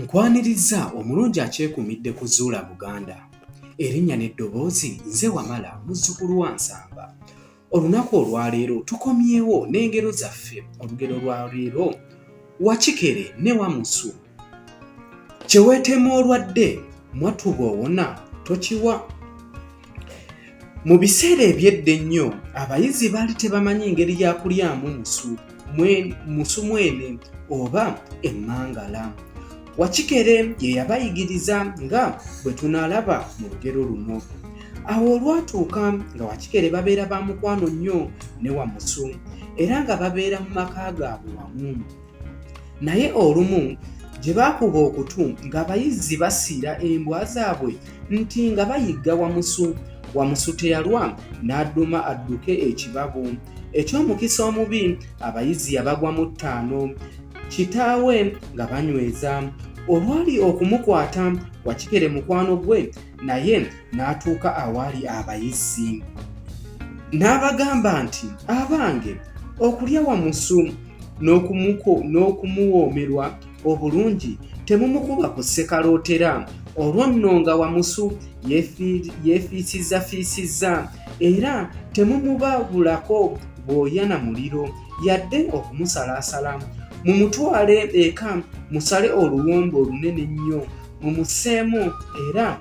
Nkwanirizza omulungi akyekumidde ku Zuula Buganda. Erinnya n'eddoboozi nze Wamala muzzukulu wa Nsamba. Olunaku olwaleero tukomyewo n'engero zaffe olugero lwa leero Wakikere ne Wamusu. Kye weeteema olwadde mwattu bw'owona tokiwa. Mu biseera eby'edda ennyo, abayizi baali tebamanyi ngeri ya kulyamu musu, musu mwene oba emmangala. Wakikere ye yabayigiriza nga bwe tunaalaba mu lugero luno. Awo olwatuuka nga Wakikere babeera ba mukwano nnyo ne Wamusu era nga babeera mu maka gaabwe wamu. naye olumu gye baakuba okutu ng'abayizzi basiira embwa zaabwe nti nga bayigga wamusu wamusu teyalwa n'adduma adduke ekibabu eky'omukisa omubi abayizi yabagwa mu ttaano kitaawe nga banyweza olwali okumukwata wakikere mukwano gwe naye n'atuuka awaali abayizzi n'abagamba nti abange okulya wamusu n'okumuwoomerwa obulungi temumukuba ku ssekalootera olwo nno nga wamusu yeefiisizzafiisizza era temumubabulako bwoya na muliro yadde okumusalaasala mumutwale eka musale oluwombo olunene ennyo mumuseemu era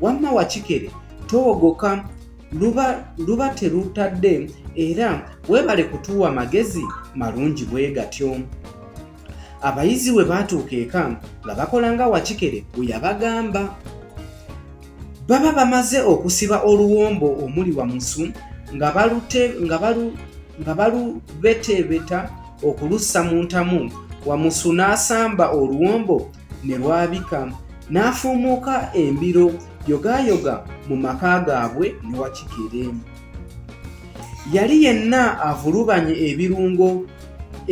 wamma wakikere towogoka luba luba terutadde era weebale kutuwa magezi malungi bwe gatyo abayizi we baatuuka eka nga bakola nga wakikere bwe yabagamba baba bamaze okusiba oluwombo omuli wamusu nga balubeteebeta okulussa mu ntamu wamusu n'asamba oluwombo ne lwabika n'afuumuuka embiro yogaayoga mu maka gaabwe ne wakigere yali yenna avulubanye ebirungo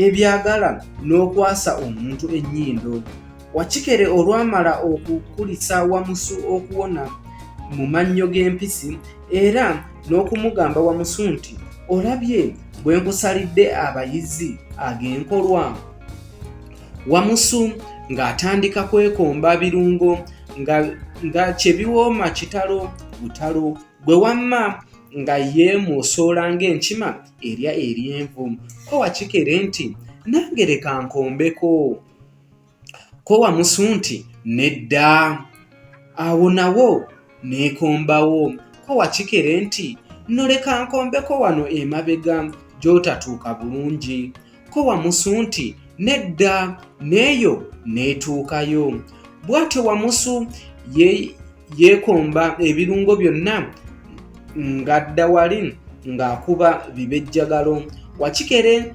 ebyagala n'okwasa omuntu ennyindo wakikere olwamala okukulisa wamusu okuwona mu mannyo g'empisi era n'okumugamba wamusu nti olabye bwe nkusalidde abayizi ag'enkolwa Wamusu ng'atandika kwekomba birungo nga, nga kyebiwooma kitalo butalo gwe wamma nga yeemwosoola ng'enkima erya eryenvu ko wakikere nti nange leka nkombeko ko wamusu nti nedda awo nawo Neekombawo ko wakikere nti nno leka nkombeko wano emabega gy'otatuuka bulungi. Ko Wamusu nti nedda n'eyo n'etuukayo. Bwatyo Wamusu yeekomba ebirungo byonna ng'adda wali ng'akuba bibejjagalo. Wakikere.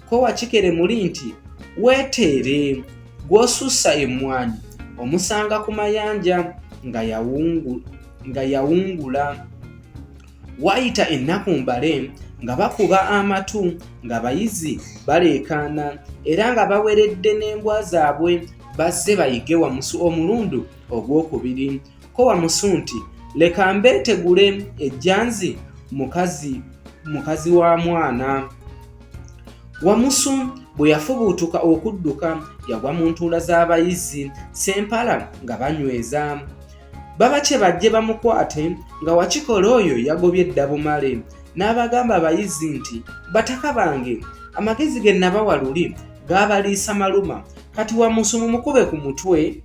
kowa kikere muli nti weeteere gw'osussa emmwanyi omusanga ku mayanja nga yawungula waayita ennaku mbale nga bakuba amatu ng'abayizi baleekaana era nga baweredde n'embwa zaabwe bazze bayige wamusu omulundu ogw'okubiri kowa musu nti leka mbeetegule ejjanzi mukazi mukazi wa mwana wamusu bwe yafubuutuka okudduka yagwa mu ntuula z'abayizi sempala nga banyweza baba kye bajje bamukwate nga wakikola oyo yagobye dda bumale n'abagamba abayizi nti bataka bange amagezi ge nabawa luli gaabaliisa maluma kati wamusu mumukube ku mutwe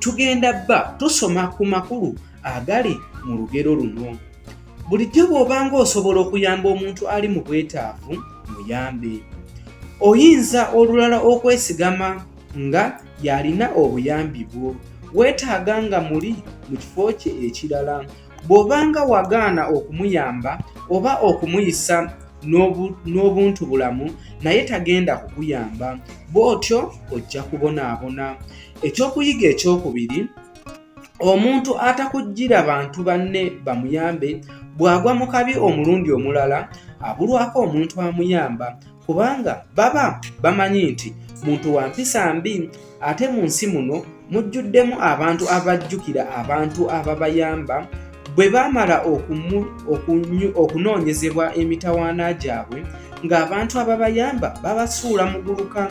tugenda bba tusoma ku makulu agali mu lugero luno bulijjo bw'obanga osobola okuyamba omuntu ali mu bwetaavu muyambe oyinza olulala okwesigama nga yalina obuyambi bwo weetaaga nga muli mu kifo kye ekirala Bw'obanga wagaana okumuyamba oba okumuyisa n'obuntu bulamu naye tagenda kukuyamba bw'otyo ojja kubonaabona. Ekyokuyiga ekyokubiri, omuntu atakujjira bantu banne bamuyambe bw'agwa mu kabi omulundi omulala abulwako omuntu amuyamba kubanga baba bamanyi nti muntu wa mpisa mbi. Ate mu nsi muno mujjuddemu abantu abajjukira abantu ababayamba bwe baamala okunoonyezebwa emitawaana gyabwe ng'abantu ababayamba babasuula muguluka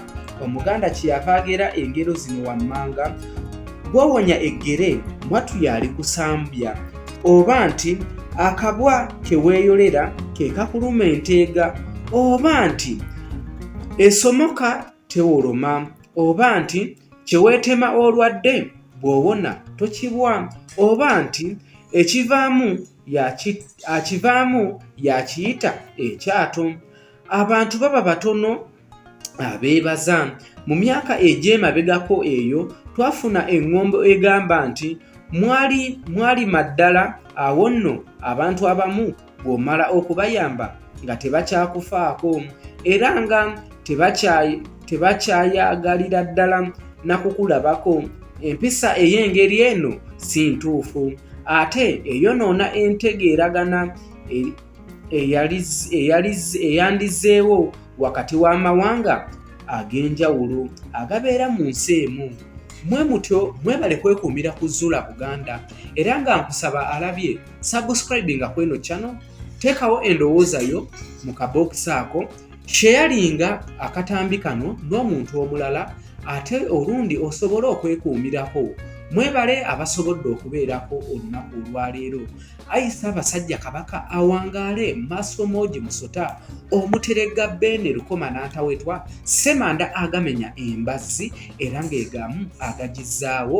omuganda kyeyava agera engero zino wammanga gwowonya eggere mwatu yaali kusambya oba nti akabwa keweeyolera ke kakuluma enteega oba nti esomoka tewoloma oba nti kyeweetema olwadde bw'owona tokibwa oba nti ekivaamu akivaamu yakiyita ekyato abantu baba batono abeebaza mu myaka egy'emabegako eyo twafuna eŋŋombo egamba nti mwali mwalima ddala awo nno abantu abamu bw'omala okubayamba nga tebakyakufaako era nga tebakyayagalira ddala na kukulabako empisa ey'engeri eno si ntuufu ate eyonoona entegeeragana eyandizeewo wakati w'amawanga ag'enjawulo agabeera mu nsi emu mwe mutyo mwebale kwekuumira ku zuula buganda era nga nkusaba alabye subscribinga kweno channel teekawo endowooza yo mu kabokisi ako sheyalinga akatambi kano n'omuntu omulala ate olundi osobole okwekuumirako mwebale abasobodde okubeerako olunaku olwaleero ayisa abasajja kabaka awangaale maaso moogi musota omuteregga beene lukoma n'antawetwa semanda agamenya embazzi era ng'egamu agagizaawo